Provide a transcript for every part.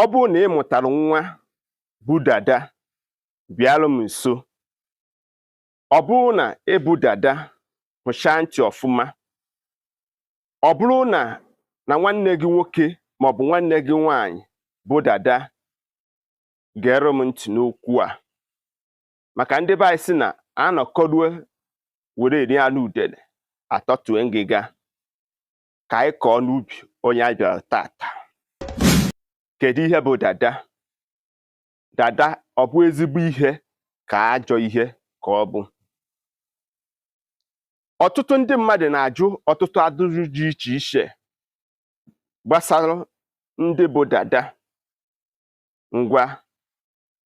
ọ bụrụ na ị mụtara nwa bụ dada bịarụ m nso ọ bụrụ na ị bụ dada hụchaa ntị ọfụma ọ bụrụ na na nwanne gị nwoke maọbụ nwanne gị nwaanyị bụ dada gere m ntị n'okwu a maka ndị be anyị sị na anọkọrue were eri anụ udele atọtue ngịga ka anyị kọọ n'ubi onye anyị bịara taata kedu ihe bụ dada dada ọ bụ ezigbo ihe ka ajọ ihe ka ọ bụ ọtụtụ ndị mmadụ na-ajụ ọtụtụ ajụjụ dị iche iche gbasara ndị bụ dada ngwa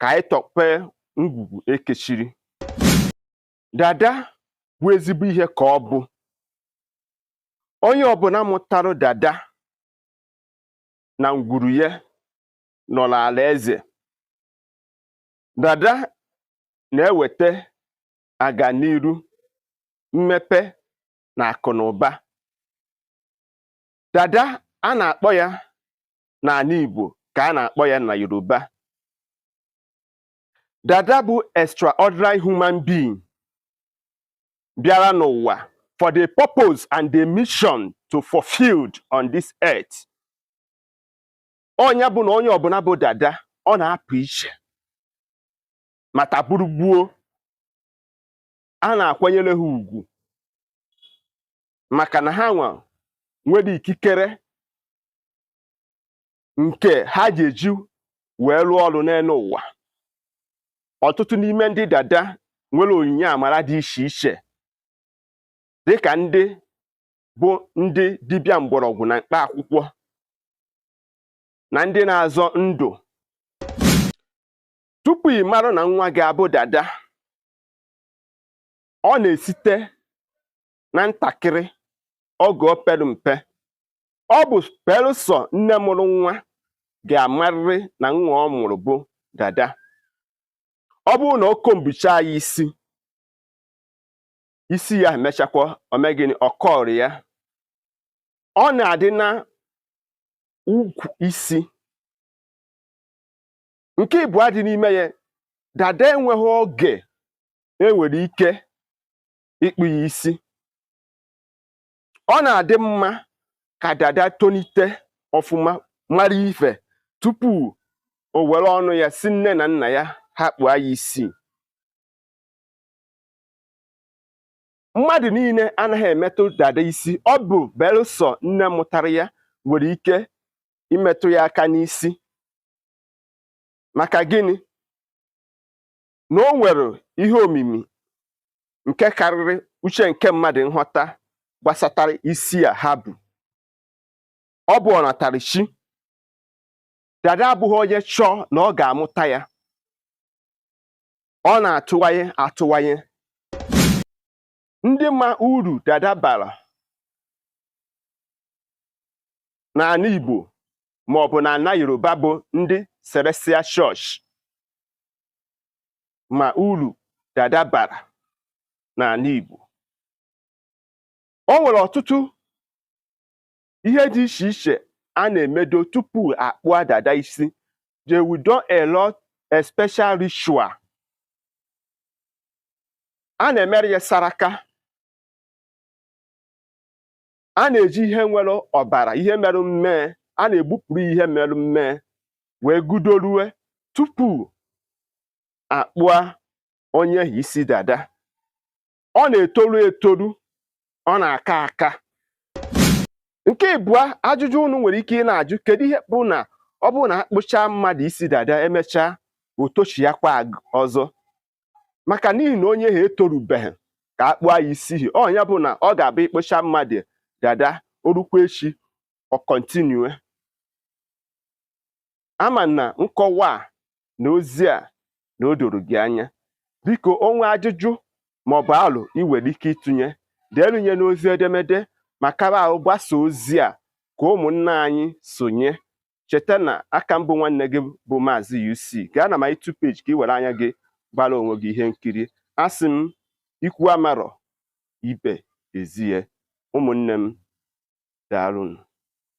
ka anyị tọpee ngwugwu e kechiri dada bụ ezigbo ihe ka ọ bụ onye ọbụna mụtara dada na ngwuru ya nọ n'ala eze dada na-eweta aganiru mmepe na akụ na ụba dada a na-akpọ ya n'anị Igbo ka a na-akpọ ya na Yoruba dada bụ extraordinary human being bịara n'ụwa for the purpose and the mission to fulfilled on this earth ọ nya bụ na onye ọbụna bụ dada ọ na-apụ iche ma taa bụrụ gboo a na-akwanyere ha ugwu maka na ha nwa nwere ikikere nke ha ga-eji wee rụọ ọrụ n'enu ụwa ọtụtụ n'ime ndị dada nwere onyinye amara dị iche iche dịka ndị bụ ndị dibịa mgbọrọgwụ na mkpa akwụkwọ na ndị na-azọ ndụ tupu ị mara na nwa gị a bụ dada ọ na-esite na ntakịrị oge o pere mpe ọ bụ belụsọ nne mụrụ nwa ga-amarịrị na nwa ọ mụrụ bụ dada ọ bụrụ na o kombuchaa ya isi isi ya emechakwa o mee gịnị ọ kọrị ya ọ na-adị na ugwu isi nke ịbụa dị n'ime ya dada enweghị oge e nwere ike ịkpụ ya isi ọ na-adị mma ka dada tonite ọfụma mara ife tupu o were ọnụ ya sị nne na nna ya ha kpụọ ya isi mmadụ niile anaghị emetụ dada isi ọ bụ belụsọ nne mụtara ya nwere ike imetụ ya aka n'isi maka gịnị na o nwere ihe omimi nke karịrị uche nke mmadụ nghọta gbasatara isi a ha bu ọ bụ ọnatarichi dada abụghị onye chọọ na ọ ga-amụta ya ọ na-atụwanye atụwanye ndị ma uru dada bara n'ana Igbo maọbụ n'ana Yoruba bụ ndị Celestial Church ma uru dada bara n'ana Igbo o nwere ọtụtụ ihe dị iche iche a na-emedo tupu akpụa dada isi they will do a lot a special ritual a na-emere ya saraka a na-eji ihe nwere ọbara ihe merụ mmee a na-egbupụrụ ihe merụ mmee wee gudorue tupu akpụa onye ahụ isi dada ọ na-etoru etoru ọ na-aka aka nke ịbụa ajụjụ unu nwere ike ịna-ajụ kedu ihe bụ na ọ bụrụ na akpụchaa mmadụ isi dada emechaa o tochiakwa ọzọ maka n'ihi na onye ha etorubeghị ka akpụa ya isi hi ọ nya bụ na ọ ga-abụ ị kpụcha mmadụ dada o rukwa echi ọ kọntinue ama na nkọwa a na ozi a na o doro gị anya biko o nwee ajụjụ maọbụ alo ị nwere ike ịtụnye deelunye n'ozi edemede ma kara ahụ gbasa ozi a ka ụmụnna anyị sonye cheta na aka m bụ nwanne gị bụ maazị UC gaa na my YouTube page ka ị were anya gị gbara onwe gị ihe nkiri asị m ikwu amarọ ibe ezie ụmụnne m daalụnụ